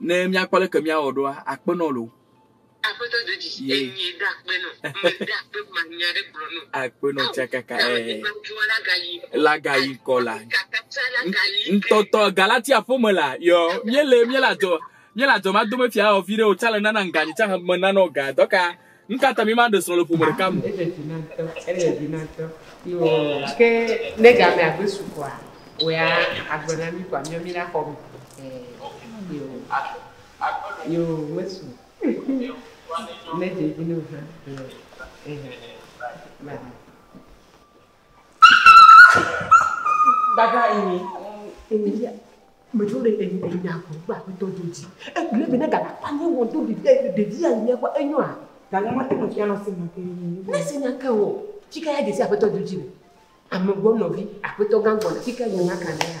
ne míakpɔ leke míawɔ ɖoa akpe nɔ lo. Aƒetɔ do dzi enye ɖo akpe nɔ me ɖo akpe ma nya ɖe gblɔ nɔ. Akpe nɔ tsa kaka ɛ. Laga yi kɔ la. Ntɔtɔ Galatia ƒome la yɔ míele míele adzɔ míele adzɔ ma dome fia ɔ vi ɖe o tsa le nana ŋganyi tsa me nana ɔ ga dɔka. Nu ka ta mímaɖe srɔ̃ le ƒome ɖeka me o? Ele vi na ŋutɔ. Ele vi na ŋutɔ. Yo, ke ne gamea gbe su koa, wòya agbe na mí koa, míɔ mí ɖe axɔ me. Ɛɛ, yo. Yo, mesu o. Ne dze vi nɛ o hã, yo. Ɛhɛɛ. Voilà. Dada Amy, Emilia, metsɔ ɖe Emi enya ko gba aƒetɔ dzo dzi. Egblẽ be ne gana kpanye wɔ do ɖevi ɖe ɖevi ya nya kɔ enyo a? Gana ma te mefia na senya ke. Ne senya ke wɔ, fika ya desi aƒetɔ dzo dzi le. Amegbɔ nɔvi, aƒetɔ gã gbɔ le fika nya nya ka ne ya.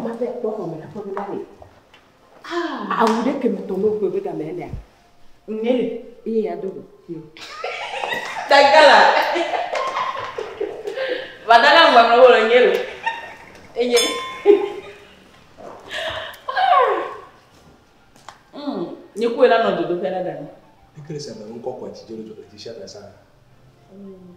Mate akpɔ xɔme le aƒeme na nɛ. Ah. Awu ɖe keme tɔ mɔ kpɔe be game ya ɖea. Ŋe le eye ya do go. Tagala. Vadala ngwamle wo le ŋe le. Eye. Hmm. Nye koe la nɔ dodo fela dani. Ikele sa me ŋkɔ kwa ti jolo jolo ti sha da sa. Hmm.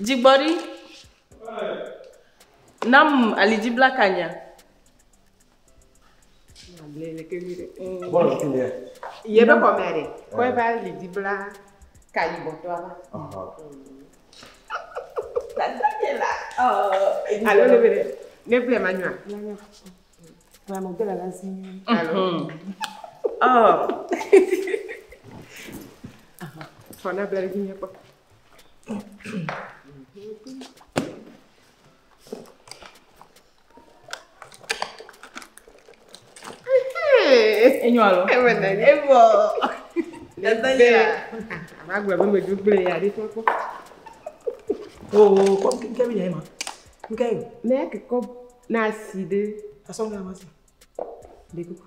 Dzigbɔɖi, nam alidziblakanya. Yebe xɔme aɖe, kɔ ebe alidzibla ka yibɔtɔa va. Alo ne be ɖe, ne ble manyɔa. Alo. Ɔ. Fɔ na ble ɖe dzi nyakpɔ. Enyo alo? Eme na ni. Ebɔ. Ebe le. Ava gblɔ be medzo gblẽ ya ɖi kpɔkpɔ. Oo, kɔ nke mi yɛ ma. Nke yo. Ne ke kɔ na si ɖe. Asɔ nga ma si. Ɖe kuku.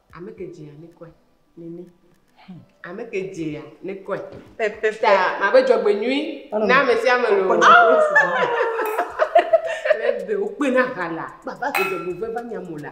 Ame ke dzea ne kɔe. Nene. Ame ke dzea ne kɔe. Pepeta mabe dzɔgbenyui na ame sia ame loo. Ebe wokpe na ha la. Baba ke dzɔgbevɔe va nya mo la.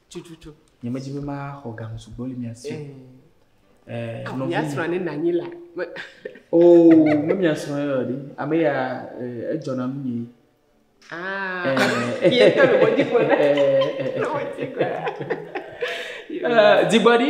tututu. Nyemedi be maxɔ ga sugbɔ le mia si. Eh, ah, mia srɔ̃ ne nanyi la. Oh, me mia srɔ̃ yɔ ɖi. Ame ya eh, edzɔna nu nyi. Ah, eh. ye tɔ le mɔdzi kɔ na. Le mɔdzi kɔ. Dzigbɔɖi.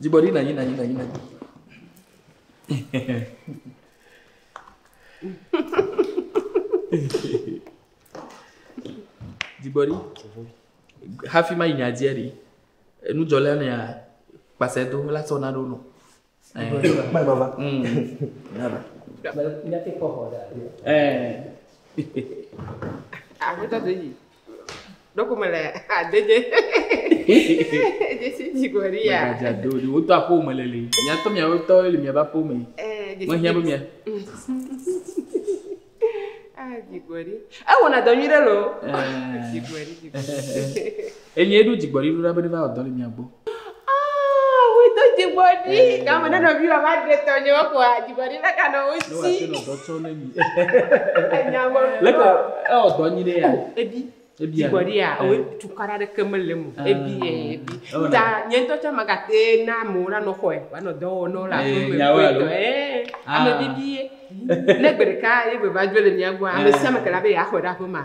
Dzigbɔɖi nanyi nanyi nanyi nanyi. Dzigbɔɖi hafi ma yi nya dzia ɖi enudzɔlɛ ne ya kpasɛ do la sɔ na ɖo nɔ. Kpɛ baba. Nya ti kpɔ xɔ ɖe. Ɛɛ. Aƒetɔ de yi. Ɖokume le adedze. Dzesi dzi gɔ ri ya. Gbadza do ɖi wodo aƒo me le li. Miatɔ miawotɔ le miaba aƒo me. Mehiã be mia. Ah, dzigbɔɖi. Ewɔna dɔ nyuie ɖe lo. Dzigbɔɖi, dzigbɔɖi. Enye ɖo dzigbɔɖi ɖo ɖa be ne va wɔ dɔ le mia gbɔ. Ah, we do dzigbɔɖi. Eh. Gama ne nɔvi wa va ɖe tɔ nye ko a dzigbɔɖi le ka nɔ wo si. Ne wa se nɔ dɔ tsɔ ne mi. Enya me. Le ka e o dɔ nyi ne ya. Oh, ebi. Ebi. Dzigbɔɖi ya, o eh. tukara ɖe ke me le mo. Ah. Ebi e ebi. Oh, Ta nye ntɔ tsa ma ka te na mo la nɔ xɔe. Wa nɔ dɔ wɔ nɔ la ko me ko tɔ. Eh. Ame ah. bibi ye. Ne gbe ɖeka ye be va jo le mia gbo. Ame ah. sia me ke la be ya xɔe ɖa ko ma.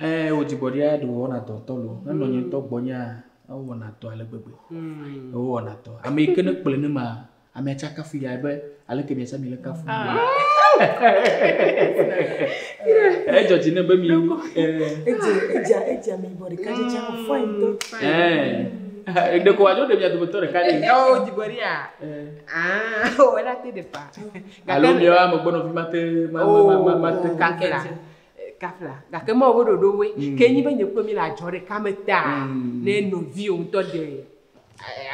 Ɛɛ, wò dzigbɔɖia ɖe wòwɔna dɔ ŋutɔ loo. Ne nɔnye ŋutɔ gbɔnyea, ewɔna dɔ ale gbegbe. Mm. Ewɔna dɔ. Ame yi ke ne kplɔe ne ma, amea tsa kafu yae be aleke miasa mi le kafu. Ah. Edzɔ dzi ne be mi. Edze edze edze mi bɔ ɖeka dze dze afɔ yi do. Ɛɛ. Ɖeko wadzɔ ɖe mia dometɔ ɖeka ɖe. Eo dzigbɔɖia. Ah, wɔ la te ɖe pa. Alo miawo amegbɔnɔvi mate mate kafe la kafe la gake ma wobe ɖoɖo woe mm. ke nyi be nye kple mi le adzɔ ɖeka me ta mm. ne novi wo ŋutɔ de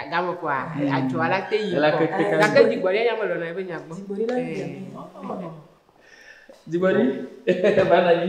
agame kɔa mm. adzɔa la te yi kɔ gake dzigbɔɖi anya me lɔna ebe nya gbɔ dzigbɔɖi la yi dzigbɔɖi bana yi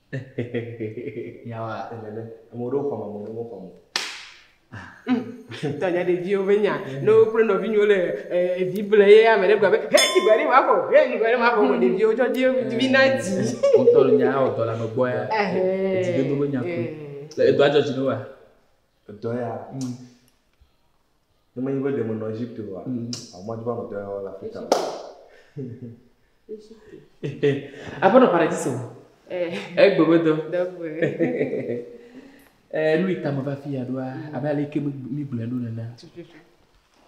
Nyawoa, enene. Ame ɖewo xɔam, ame ɖewo mexɔam o. Tɔnye ɖeviwo be nya. Ne wokple nɔvinyɔwo le evi ble ye ame ɖe gblɔ be, hɛ dzi gbe ɖe ma xɔ, hɛ dzi gbe ɖe ma xɔ vɔ ɖeviwo tsɔ dzi be mi na dzi. Wo ŋtɔ le nya awɔ dɔ le ame gbɔ ya. Edzi dodo be nya koe. Edɔa dzɔ dzi na woa? Edɔ ya. Ne menye be ɖe menɔ Egypte oa, ʋu madi be ameɖe le Afrika o. Aƒenɔ Paradiso, egbe me dɔ. Nu yi ta meva fi ya ɖoa, abe ale ke mi gblɔe ɖo nena.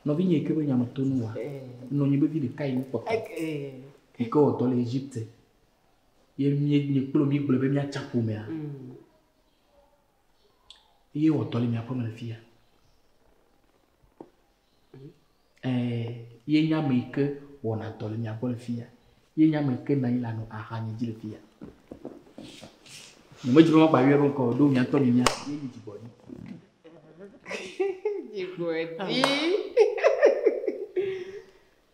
Nɔvinye yi ke be nya me to nu wa, nɔ nyi be vi ɖeka yi kpɔtɔ. Yi ke wɔ dɔ le Egypte. Ye mi kplo mi gblɔ be miatsa ƒomea. eye wòatɔ le mia ƒeme le fia. Ɛɛ, ye nye ame yi ke wɔna dɔ le mia gbɔ le fia. Ye nye ame yi ke nɔ anyi le anɔ axanye dzi le fia. Nyemedzi be magba yɔe be ŋkɔ o, ɖo mia ŋutɔ mi mia si ye nye dzigbɔɖi. dzigbɔɖi.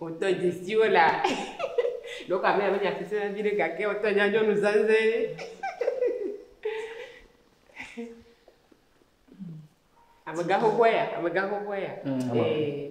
wòtɔ dzesiwo la ɖewo ka mea menya sese na vi ɖe gake wòtɔ nya nyɔnu zanzɛ amegã xoxoa ya amegã xoxoa ya mm. ee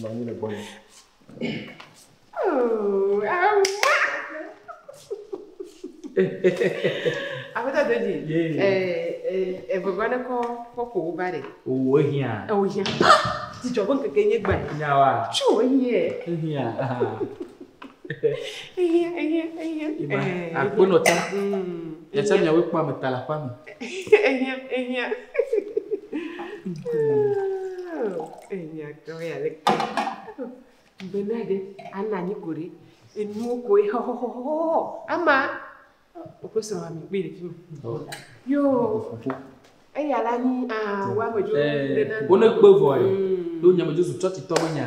Nɔ anyi le gbɔ ne. Aƒetɔ Doji, egbegbe ne kɔ kɔpo wo ba ɖe. Owó ehiã. Ewò hiã. Dzidzɔ ƒe ŋkeke nye gbe. Nya wa. Tso ehiã. Ehiã. Ehiã ehiã ehiã. Akpɔnɔ ta. Yasa miawo kpɔ ame ta la kpɔ ame. Ehiã, ehiã. Ehiã keŋ ya le ke. Be na ɖe ana anyi ko ɖe. Enuwo ko ye xɔxɔxɔxɔ. Ama woƒe srɔ̃a mi kpee le fi ma. Yo. Eya la ni a wa me jo. Wo ne kpe vɔ ye. Do nya me jo su chɔti tɔ be nya.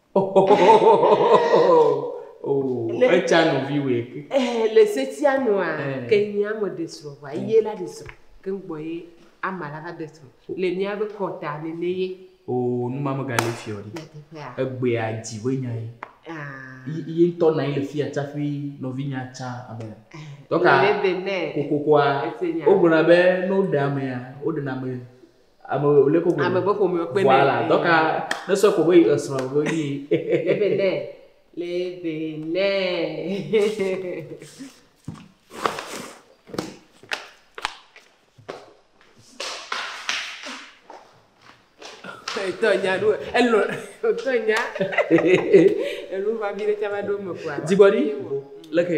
Le- etsa nɔvi wòe ke Eh, le setia nua Eh. ke nye ame ɖe srɔ̃ ʋa ye la ɖe srɔ̃ ke ŋ gbɔ ye ama la va ɖe srɔ̃ le míabe kɔta nene ye o numa megale fiɔ ɖi nyateƒea egbea dzi be nya ye Ah, Yi- yi ŋutɔ nɔ anyi le fia tsaƒe nɔvinya tsa ame eh, Dɔka- le bene kokokoa ese nya wogblɔna be ne woɖe amea woɖena ame Ame wòle koko. Ame be ƒome kpe nɛ. Voilà, dɔka ne sɔ ko be esrɔ̃ be yi. Lebe nɛ, lebe nɛ. Etɔ nya ɖo, elɔ, etɔ nya. Enu va bi ɖe tsa va ɖo me kua. Dzigbɔɖi, leke.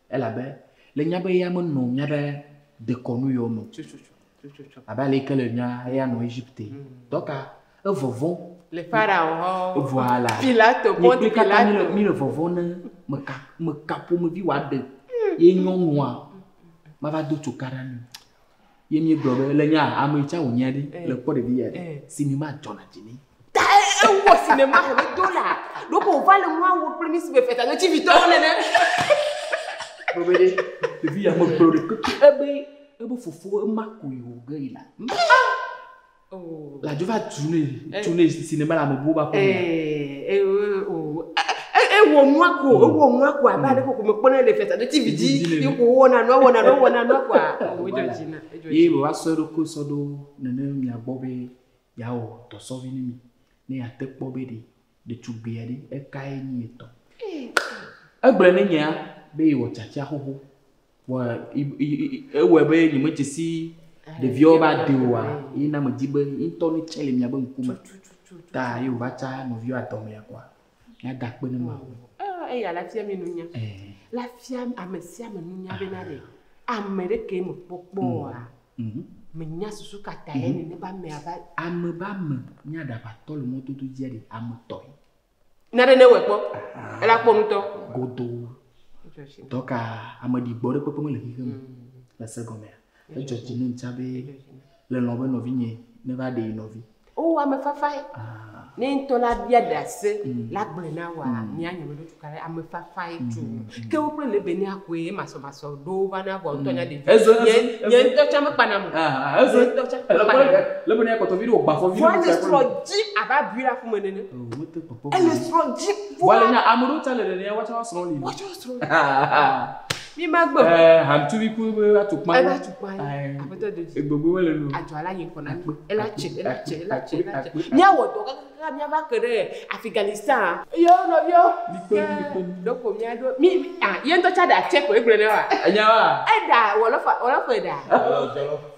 Elabe le nya be eya menɔ mía ɖe dekɔnu yɔ me o, abe ale ke le nya eya nɔ Egipte. Dɔka evɔvɔ̃. Le Farao hã. Evɔa la. Pilato pɔ ti Pilato. Mi le vɔvɔ̃ ne me ka me ka ƒomevi wa ɖe ye nyɔnua ma va do tso ka ɖa mi. ye míegblɔ be le nya ame tsa wònyia ɖi eh. le kpɔ ɖevi ya ɖi eh. sinima dzɔna dzi ni. ta ewɔ sinima xɔ be do la ɖoko wòva le nua wɔ kple mí si be feta ne tivitɔwo nene. gblɔ be ɖe ɖevi ya megblɔ ɖe keke ebe ebe fofo ema koe wòge yi la. Oh. La Jehova tunɛ eh. tunɛ si ne bala amebuwo ba kɔnɔ. Eh, eh, oh. Ewɔ nua ko, hmm. ewɔ nua ko abe ale ko me kpɔnɛ le fiasa ɖe TV dzi, yi ko wɔna nua wɔna nua wɔna nua ko a. Oh, edzɔ dzi na, edzɔ dzi. Ye be wa sɔ eɖokui sɔ ɖo nene mia gbɔ be yeawɔ dɔsɔvi ne mi, ne yeate kpɔ be ɖe Ɖetugbui aɖe, ekae nyi ye tɔ? Egblɔe ne nyea be ye wɔ tsatsia xoxo, vɔ ewɔe be nye me dzesi ɖeviawo be ade oa, ye na me di be ye ŋutɔ ne tse le mia be ŋku me, ta ye wo va tsa nɔviawo adɔmea kɔa, mia da akpe ne Mawu. Ah, eya la fia mi nunya. Eh. La fia ame sia ame nunya be na ɖe ame ɖe ke me kpɔkpɔ oa, Mhm. Menya susu ka tae Mhm. nenema amea va. Ame be ame nye aɖaʋatɔ le mɔdodo dzia ɖi ame tɔe. Na ɖe ne wòe kpɔ. Ela kpɔ nutɔ. Godoo. Edzɔ dzi nɔ- Dɔka ameɖigbɔ ɖe kpekpe mele xixe me Mm. le se gɔmea. Edzɔ dzi nɔm tsã be Edzɔ dzi nɔ- le lɔ̃ be nɔvinye neva ɖe ye nɔvi. Wowɔ ame fafae. Ne ŋutɔ la bia ɖase la gblɔe na wòa, mia nyɔme ɖo tuka ɖe ame fafae tu. Ke wo kple Lebenia koe ye masɔmasɔ ɖo wova na vɔ ŋutɔ nya ɖevi. Ezo ezo. Nye ŋutɔ tsa mekpa na mo. Ah ezo. Ŋutɔ tsa mekpa na mo. Lebenia kpɔtɔ vi ɖe wò gbafɔ vi ɖe. Vɔ ele srɔ̃ dzi abe abui ɖe aƒeme nene. Ele srɔ̃ dzi. Vɔ le nya ame ɖewo tsa le nene woatsa woasrɔ̃ li. Woatsa woasrɔ̃ li. Mi ma gbɔ. Eh, ham tu mi ku be atu kpa. Ela tu kpa. Abeto de. E gbogbo wele nu. Atu ala yin kona. Ela che, ela che, ela che, ela che. Mi awo do ka ka mi ava kere Afghanistan. Yo no yo. Mi kpe mi kpe. Do ko mi ado. Mi ah, yen to cha da che ko e gble ne wa. Enya wa. E da wolofa, wolofa e da. Wolofa.